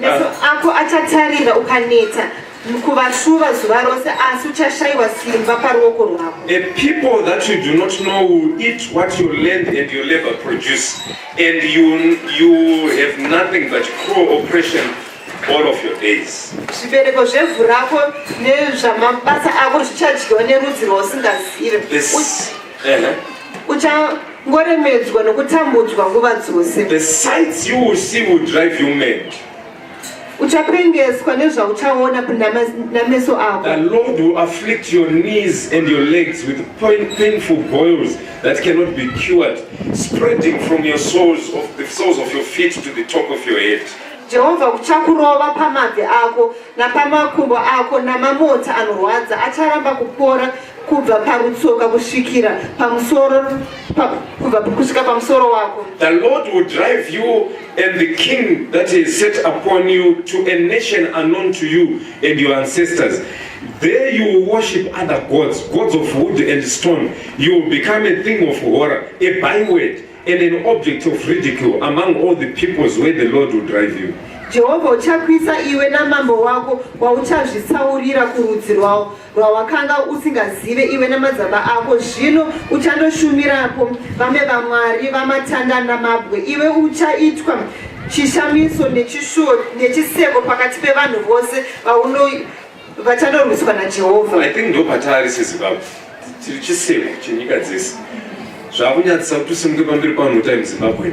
meso ako achatarira ukaneta kuvashuva zuva rose asi uchashayiwa simba paruoko rwako a people that you do not know will eat what your land and your labor produce and you, you have nothing but cruel oppression all of your days zvibereko zvevhu rako nezvamabasa ako zvichadyiwa nerudzi rwausingazive uh-huh. ngoremedzwa nokutambudzwa nguva dzose the sights you will see will drive you mad uchapengeswa nezvauchaona nameso ako the lord will afflict your knees and your legs with pain, painful boils that cannot be cured spreading from your soles of the soles of your feet to the top of your head jehovha kuchakurova pamabvi ako napamakumbo ako namamota anorwadza acharamba kupora kubva parutsoka kusvikira pamusoro kubva kusvika pamusoro wako the lord will drive you and the king that he set upon you to a nation unknown to you and your ancestors there you will worship other gods gods of wood and stone you will become a thing of horror a byword and an object of ridicule among all the peoples where the lord will drive you jehovha uchakwisa iwe namambo wako wauchazvitsaurira kurudzi rwawo rwawakanga usingazive iwe nemadzaba ako zvino uchandoshumirapo vamwe vamwari vamatanda namabwe iwe uchaitwa chishamiso nechishuwo nechiseko pakati pevanhu vose vauno vachadorwiswa najehovha i think ndopataari sezimbabwe tiri chiseko chenyika dzese zvakunyadzisa kuti usimuke pamberi pamhota yemuzimbabwe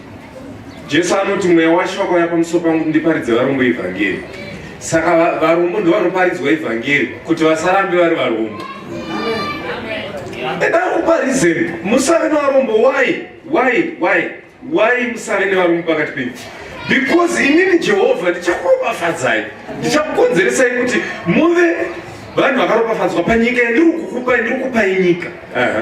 Jesu anoti mweya waShe wakauya pamusoro pangu ndiparidze varombo evhangeri. Saka varombo ndovanoparidzwa evhangeri kuti vasarambe vari varombo. Enda kuparizeni musave nevarombo why why why why musave nevarombo pakati penyu because inini Jehovha ndichakuropafadzai ndichakukonzeresai kuti muve vanhu vakaropafadzwa panyika yandiri kukupai ndiri kupai nyika. Uh -huh.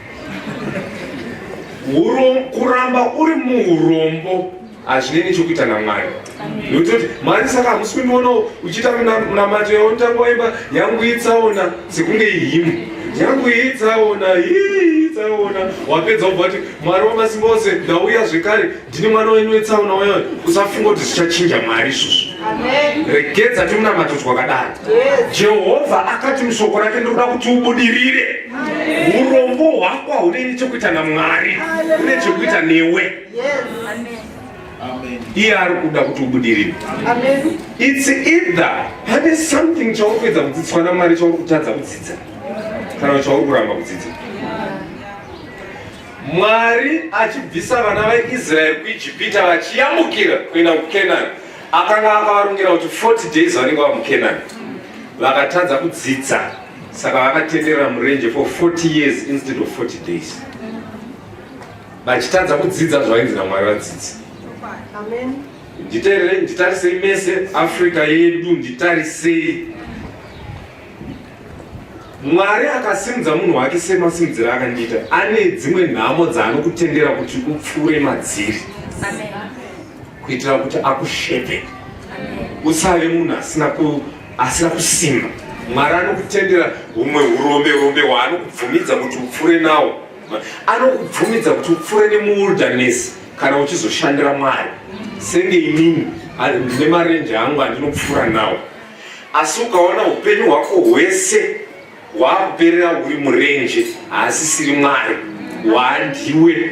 kuramba uri muurombo hazvine nechokuita namwari nokuti kuti mwari saka hamusi kundionawo uchiita munamato yavo nditanga waimba yangu itsaona sekunge ihimu yangu itsaona itsaona wapedza ubva kuti mwari wamasimba ose ndauya zvekare Ndini mwana wenyu wetsaona uyoyo, usafunga kuti zvichachinja Mwari izvozvo. Regedza timunamato twakadaro. Jehovha akati mushoko rake ndinoda kuti ubudirire. Urombo hwako haune nechekuita naMwari, une chekuita newe. Iye ari kuda kuti ubudirire. It's either pane something chauri kuedza kudzidziswa naMwari chauri kutadza kudzidza kana chauri kuramba kudzidza. Mwari achibvisa vana veIsraeri kuIjipita vachiyambukira kuenda kuKenani, akanga akavarongera kuti 40 days vanenge vava muKenani. Vakatadza kudzidza, saka vakatenderera murenje for 40 years instead of 40 days, vachitadza kudzidza zvainzi naMwari vadzidzi. Nditarisei mese Africa yedu, nditarisei mwari akasimudza munhu wake semasimudziro akandiita ane dzimwe nhamo dzaanokutendera kuti upfuure madziri kuitira kuti akushepe usave munhu asina kusimba mwari anokutendera humwe urombe rombe hwaanokubvumidza kuti upfuure nawo anokubvumidza kuti upfuure nemuwildaness kana uchizoshandira mwari senge inini nemarenje angu andinopfuura nawo asi ukaona upenyu hwako hwese hwakuperera huri murenje haasisiri mwari hwandiwe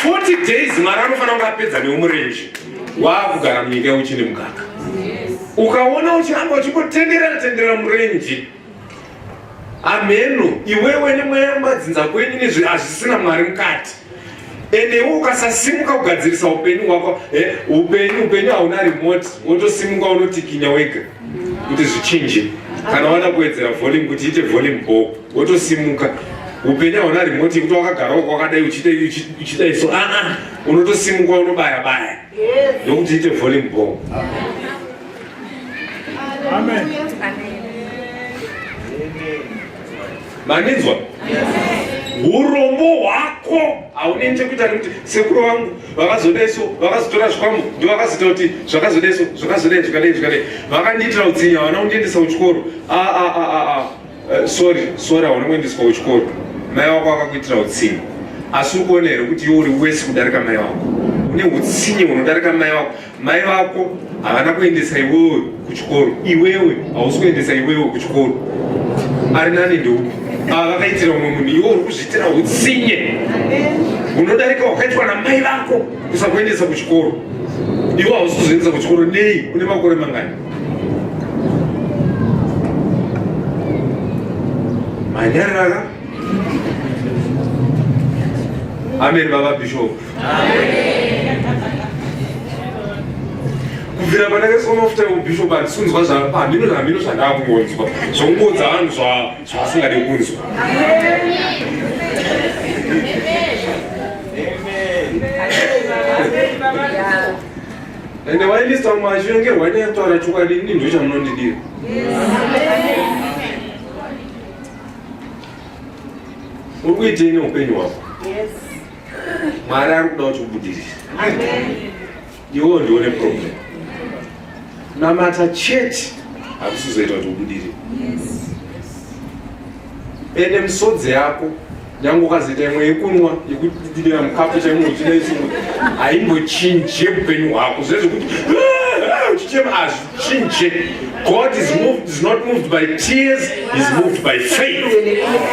forty days mwari anofanira kunge apedza neumurenje waakugara munyika yeuchine mukaka ukaona uchiramba uchingotenderera tenderera murenje Ameno, iwewe nemweya kumadzinza kwenyu nezvi hazvisina mwari mukati ende iwe ukasasimuka kugadzirisa upenyu hwako eh, upenyu upenyu hauna remote wotosimuka unotikinya wega kuti zvichinje kana wada kuwedzera volume kuti iite volume bo wotosimuka upenyu hauna remote yekuti wakagara wako wakadai uchiita iso aa ah, ah, unotosimuka unobaya baya nokuti ite volume bomb mandinzwa urombo hwako haunei chekuita nekuti sekuru vangu vakazoda so vakazotora zvikwambo ndo vakazoita kuti zvakazoda so zvakazoda zvikadei zvikadei vakandiitira utsinya vana kundiendesa kuchikoro aa ah, ah, ah, Uh, sorry sorry hauna kuendeswa kuchikoro mai wako akakuitira utsinye asi uri kuona here kuti iwe uri wese kudarika mai wako une utsinye hunodarika mai wako mai vako havana kuendesa iwewe kuchikoro iwewe hausi kuendesa iwewe kuchikoro ari nani ndeu ava vakaitira umwe munhu iwe uri kuzviitira utsinye hunodarika hwakaitwa namai vako kusakuendesa kuchikoro iwe hausi kuzviendesa kuchikoro nei une makore mangani manyarara ameni baba bishop kubvira pandakaiswa mafuta eubishop handisunzwa zvahamino zvahamino zvandakungonzwa zvokungonza vanhu zvavasingade kunzwa ende wailisa mwazvo nge hwani yataura chokwadi ini ndo chamunondidira uri kuitei neupenyu hwako mwari ari kuda kuti ubudirire iwo ndione problem namata chete hakusizoita kuti ubudirire ende misodzi yako nyange ukazoita imwe yekunwa yekudidira mukapu chaimo uchina isingo haimbochinje upenyu hwako zvezvekuti uchichema ah, hazvichinje god is moved is not moved by tears is moved by faith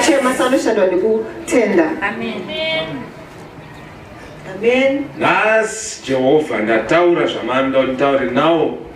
chema sanoshandwa nekutenda amen amen nhasi jehovha ndataura zvamanoda kuti nditaure nawo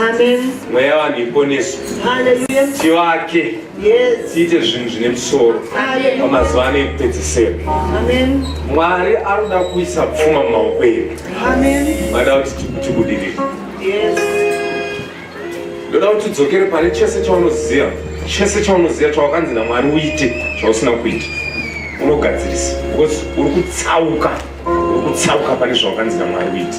Amen. Mweya vanhu iponeswe. Hallelujah. Tivake. Yes. Tiite zvinhu zvine musoro. Amen. Pamazuva ano ekupedzisira. Amen. Mwari anoda kuisa pfuma mumaoko edu. Amen. Vada kuti tibudirire. Yes. Ndoda kuti udzokere pane chese chaunoziva. Chese chaunoziva chawakanzi naMwari uite chausina kuita. Unogadzirisa. Because uri kutsauka. Uri kutsauka pane zvawakanzi naMwari uite.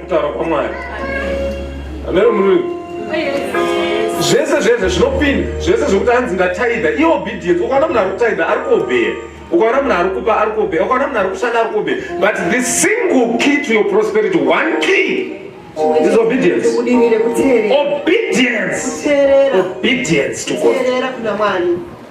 kutaura kwamwari amero murimi zvese zvese zvinopinda zvese zvekuti anzi ndataida i obedience ukaona munhu ari kutaida ari kuobeya ukaona munhu ari kupa ari kuobeya ukaona munhu ari kushanda ari kuobeya but the single key to your prosperity one key is obedience obedience obedience to god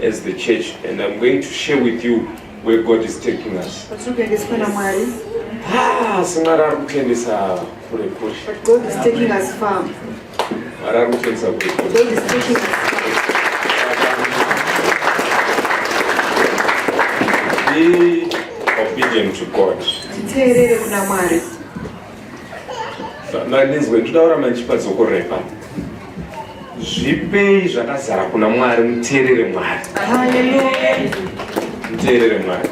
as the church and I'm going to share with you where God is taking us. Ah, Mwari ari kutendesa kure kure. But God is taking us far. Mwari ari kutendesa kure kure. God is taking us far. Be obedient to God. Titeerere kuna Mwari. mandinzwe nditaura mandichipa dzoko repa zvipei zvakazara kuna mwari muteerere mwari muteerere mwari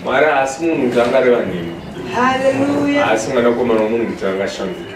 mwari haasi munhu kuti angareva nemi haasi mwanakomana womunhu kuti angashanduka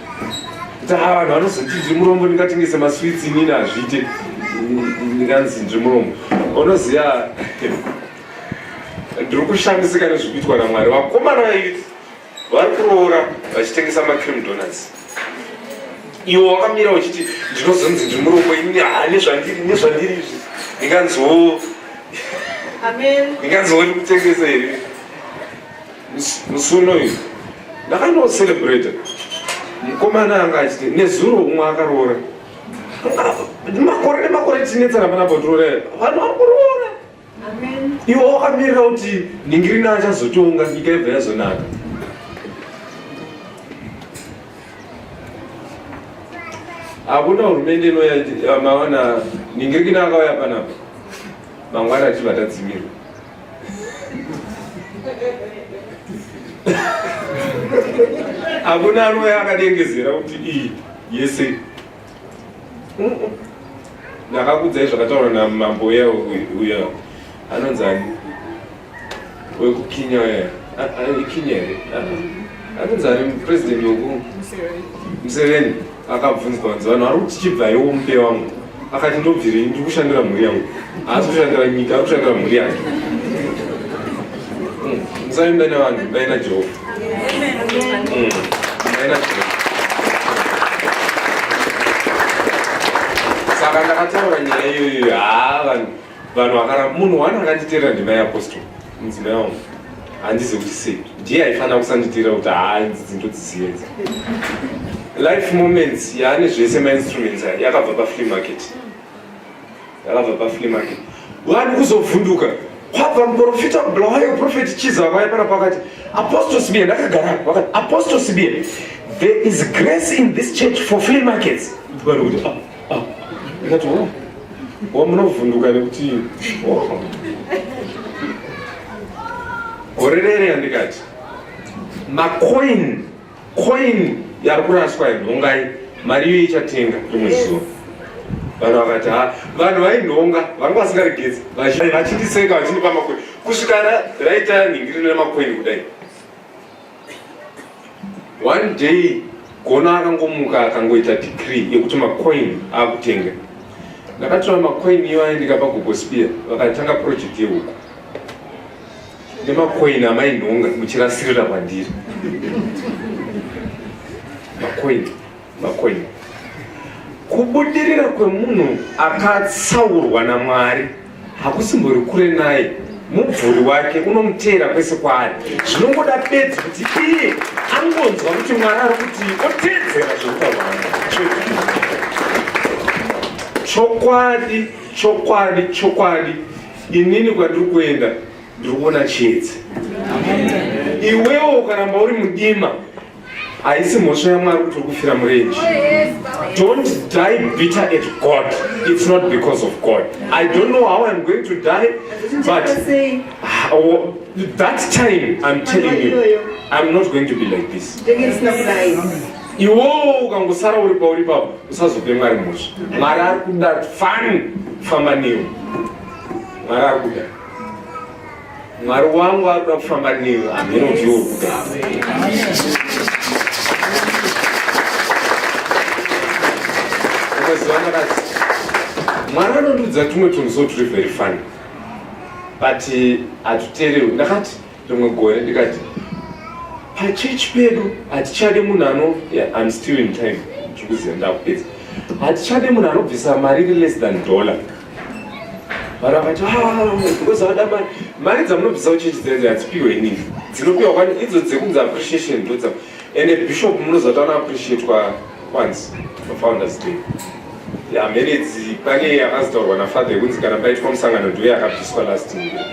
taa vanhu vanozoti ndrimurombo ndingatengese maswits inini hazviite ndikanzi ndrimurombo unoziva ndiri kushamisika nezvikuitwa namwari vakomana vaiti vari kuroora vachitengesa macream donuts iwo wakamira uchiti ndinozonzi ndiri murombo ini ha nezvandiri nezvandiri izvi ndinganziwo ndinganziwo ndikutengesa here musi unoyu ndakandocelebrata mukomana anga achiti nezuro umwe akaroora makore nemakore tinetsana pana botirore vanhu vari kuroora iwe wakamirira kuti ningirina achazotonga nyika yebva yazonaka hakuna hurumende inoya maona ningirikina akauya panapa mangwana achibva tadzimirwa hakuna anoya akadengezera kuti iyi yese ndakakudzai zvakataura namambo uya uya anonzi ani wekukinya uya ikinya here anonzi ani president weku museveni akabvunzwa nzi vanhu vari kuti chibvaiwo mupe wangu akati ndobvirei ndiri kushandira mhuri yangu haasi kushandira nyika ari kushandira mhuri yake hmm, musaimba nevanhu imbai najehovha hmm, imbai najehovha saka ndakataura nyaya iyoyo haa vanhu vanhu vakara munhu wani akanditera ndimai apostol mudzimai wangu handizi kuti sei ndiye aifanira kusanditera kuti haa idzidzi ndodziziedza life moments yaane zvese mainstruments ayo yakabva pafree market yakabva pafree market vanhu kuzovhunduka kwabva muprofita bulawayo profeti chiza vaye pana pakati apostol sibie ndakagara vakati apostol sibie there is grace in this church for free markets vanhu kuti ah, ndikati oh, oh munovhunduka nekuti oh. gore rere yandikati macoin coin yari kuraswa inhongai mari iyo ichatenga rimwe zuva vanhu vakati ha vanhu vainhonga vanga vasingaregedzi vachindiseka vachindipa macoin kusvika raita nhingiriro remacoin kudai one day gona akangomuka akangoita degree yekuti macoin akutenga ndakatora macoin iyo aendeka pagogospia vakatanga project yehuku nemacoin amainhonga muchirasirira kwandiri macoin Makwenyu. Kubudirira kwemunhu akatsaurwa naMwari hakusimbori kure naye mubvuri wake unomuteera kwese kwaari zvinongoda bedzi kuti iye angonzwa kuti mwari ari kuti oteedzera zvekutaurana chokwadi chokwadi chokwadi inini kwandiri kuenda ndiri kuona chiedzi iwewo ukaramba uri mudima haisi mhosva yamwari kuti uri kufira murenji don't die bitter at god it's not because of god i don't know how i'm going to die but that time i'm telling you i'm not going to be like this iwowo ukangosara uri pauri papo usazope mwari mhosva mwari ari kuda fani famba newe mwari ari kuda Mwari wangu akuda kufamba newe amheno vyo kugara. Ukaziwana kazi Mwari anondiudza tumwe tunhu so turi very funny but hatuterewi. Ndakati rimwe gore ndikati pachechi pedu hatichade munhu ano I'm still in time chikuziva ndakupedza hatichade munhu anobvisa mari iri less than dollar varamati because ah, vada mari mari dzamunobvisa kuchechi dzenze hadzipiwe inini dzinopiwa kwani idzo dzekunzi appreciation ndodza ende bishop munozotaona appreciate kwa kwanzi pafounders day hamene dzi pane yakazotaurwa nafather yekunzi kana paitwa musangano ndiwe yakabviswa last year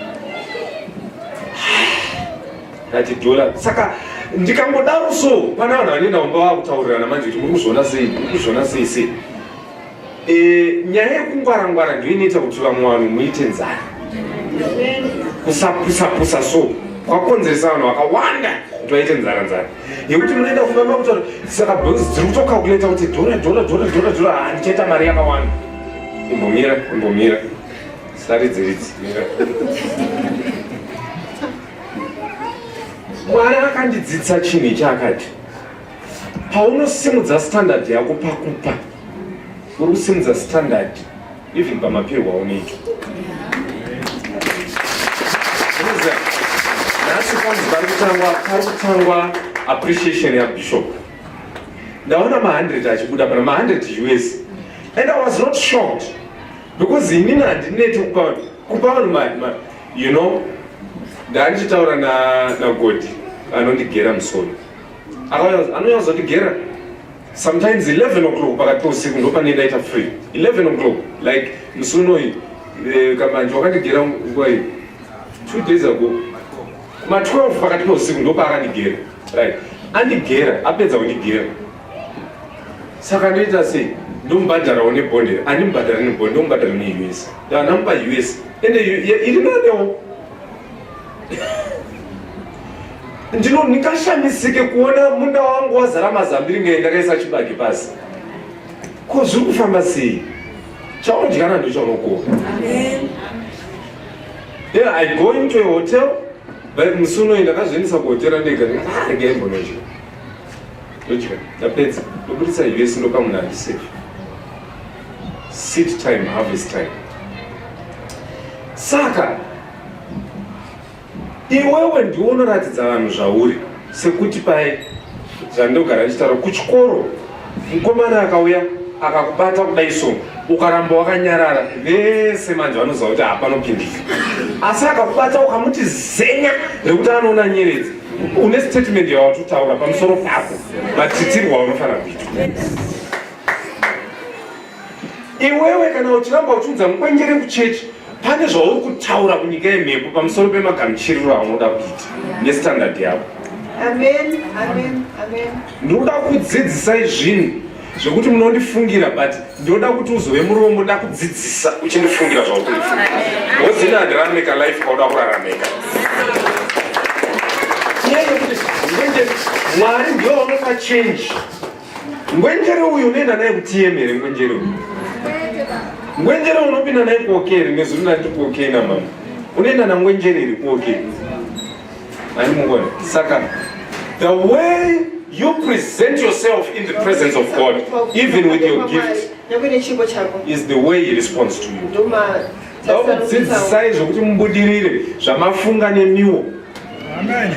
ndati dollar saka ndikangodaro so pane vanhu vane naomba vakutaurirana manje kuti muri kuzviona sei muri kuzviona sei sei E, nyaya yekungwara ngwara ndiyo inoita kuti vamwe vanhu muite nzara kusapusa pusa so kwakonzeresa vanhu vakawanda kuti vaite nzara nzara yekuti munoenda kumba makutora saka bhozi dziri kutokakuleta kuti dhora dhora dhora dhora dhora handichaita ah, mari yakawanda imbomira imbomira saridzi ridzi mwari akandidzidza chinhu ichaakati paunosimudza standard yako pakupa uri kusimudza standard even pamapirwo aunoitwa nhasi kwanzi pari kutangwa pari kutangwa appreciation yabishop ndaona ma100 achibuda pana ma100 us and i was not shocked because inini handineti kupa kupa vanhu you know ndandichitaura nagodi anondigera musoro anonyazotigera sometimes 11 o'clock pakati pousiku ndopane ndaita free 11 o'clock like musi unoyi eh, kamanje wakandigera nguva iyi two days ago kuma 12 pakati pousiku ndopaakandigera right andigera apedza kundigera saka ndoita sei ndomubhadharawo nebonde andimubhadhari nebonde ndomubhadhara neus ndanamupa us ende iri nanewo ndino ndingashamisike kuona munda wangu wazara mazambiri ngei ndakaisa chibage pasi ko zviri kufamba sei chaudyana ndochaunokuwa then i go into a hotel but musi unoyi ndakazviendesa kuhotera ndega ndikaarega imbonodya ndodya ndapedza ndoburitsa us ndopa munhu andisafe sit time harvest time saka iwewe ndiwo unoratidza vanhu zvauri sekuti paye zvandogara ndichitaura kuchikoro mukomana akauya akakubata kudai so ukaramba wakanyarara vese manje vanoziva kuti hapanopindika asi akakubata ukamuti zenya rekuti anoona nyeredzi une statement yawatotaura pamusoro pako matitirwa unofanira kuitwa iwewe kana uchiramba uchiudza mukwenjere kuchechi pane zvauri kutaura kunyika yemhepo pamusoro pemagamuchiriro aunoda kuita nestandard yako ndinoda kudzidzisai zvinhu zvekuti munondifungira but ndinoda kuti uzove murombo ndakudzidzisa uchindifungira zvaukuifunga wozina handirarameka life kwauda kurarameka mwari ndiyo vanopa change Ngwenjere uyu unoenda naye kuTM here ngwenjere uyu? Ngwenjere unopinda naye kuOK here ngezuri ndati kuOK namama? Unoenda nangwenjere here kuOK? Ani mungona? Saka the way you present yourself in the presence of God even with your gift is the way he responds to you. Vakudzidzisai zvokuti mubudirire zvamafunga nemiwo. Amen.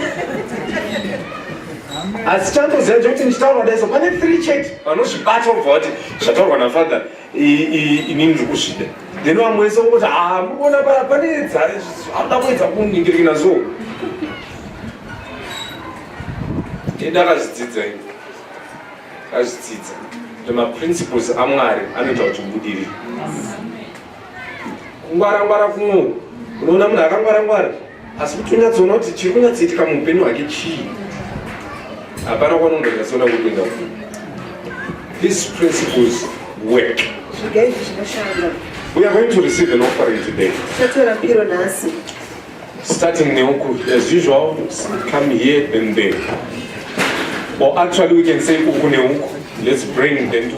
asi chandoziva chekuti ndichitaurwa daiso pane three chete vanozvibata obva vati zvataurwa nafather inini ndiri kuzvida then vamwe wese ungoti haa ah, mukuona paya pane anoda kuedza kuningirikina so ende akazvidzidza ini akazvidzidza kuti maprinciples amwari anoita kuti mubudirire kungwara ngwara kuno unoona munhu akangwara ngwara asi kuti unyatsoona kuti chiri kunyatsoitika muupenyu hwake chii hapana kwanongoinatsoona kuenda ku these principles work we are going to receive an offering today starting neuku as usual come here and there or actually we can say uku neuku let's bring them to